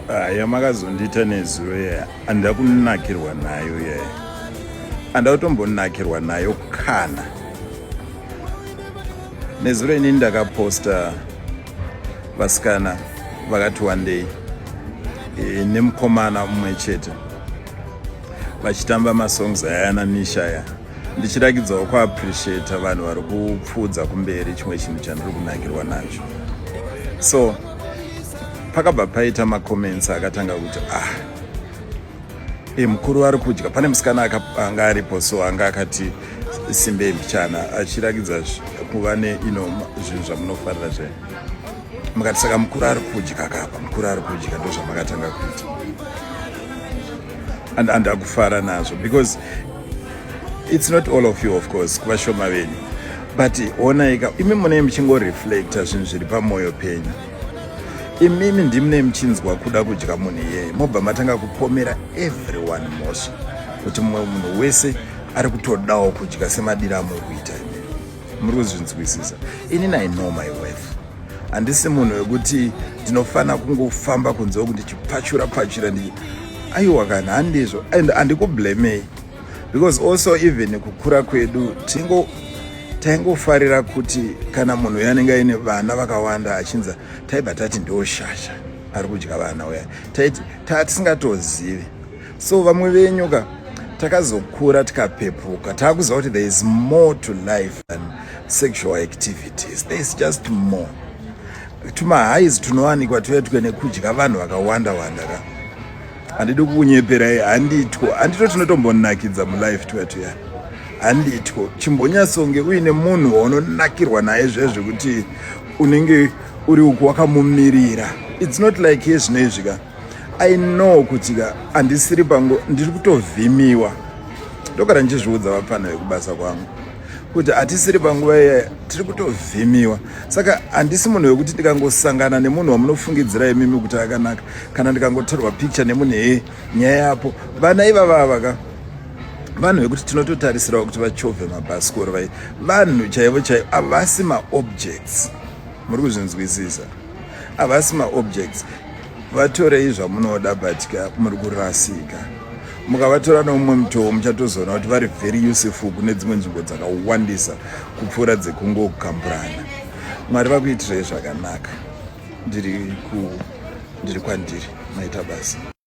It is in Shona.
Ah, yamakazondiita nezuro yaya andida kunakirwa nayo yaya andida kutombonakirwa nayo kana nezuro inini ndakaposta vasikana vakati wandei e, nemukomana umwe chete vachitamba masongs ayana nisha aya ndichiragidzawo kuappreciata vanhu vari kupfuudza kumberi chimwe chinhu chandiri kunakirwa nacho so pakabva paita macomments akatanga kuti ah e mukuru ari kudya pane musikana anga aripo so anga akati simbei mbichana achiragidza kuva ne ino zvinhu zvamunofarira zve mukati saka mukuru ari kudya kapa mukuru ari kudya ndozvamakatanga kuita and andakufara nazvo because it's not all of you of course kuvashoma venyu but onaika imi munei muchingoreflecta zvinhu zviri pamwoyo penyu imimi ndimunei muchinzwa kuda kudya munhu iyeye mobva matanga kupomera everyone mosha kuti mumwe munhu wese ari kutodawo kudya semadira amuri kuita imi muri kuzvinzwisisa inini i know my worth handisi munhu wekuti ndinofanira kungofamba kunze uku ndichipfachura pfachura ndi aiwa kana handizvo and handikublamei because also even kukura kwedu tingo taingofarira kuti kana munhu uyo anenge aine vana vakawanda achinza taibva tati ndioshasha ari kudya vana uya taiti tatisingatozivi so vamwe venyu ka takazokura tikapepuka takuziva kuti there is more to life than sexual activities there is just more tumahais tunowanikwa tuetwe nekudya vanhu vakawanda wanda ka handidi kukunyeperai handitwo handitwo tinotombonakidza mulife twetuyani handitwo chimbonyasonge uine munhu waunonakirwa naye zvezvekuti unenge uri uku wakamumirira its not like yezvino izvi ka i know kuti ka handisiri pangu ndiri kutovhimiwa ndogara ndichizviudza vapfana vekubasa kwangu kuti hatisiri panguva iya tiri kutovhimiwa saka handisi munhu wekuti ndikangosangana nemunhu wamunofungidzira imimi kuti akanaka kana ndikangotorwa picture nemunhu hee nyaya yapo vana ivava vaka vanhu vekuti tinototarisirawo kuti vachovhe mabhasikoro vai vanhu chaivo chaivo havasi maobjects muri kuzvinzwisisa havasi maobjects vatorei zvamunoda but ka muri kurasika mukavatora neumwe mutoo muchatozoona kuti vari very useful kune dzimwe nzvimbo dzakawandisa kupfuura dzekungokamburana mwari vakuitirei zvakanaka ndiri ku ndiri kwandiri maita basa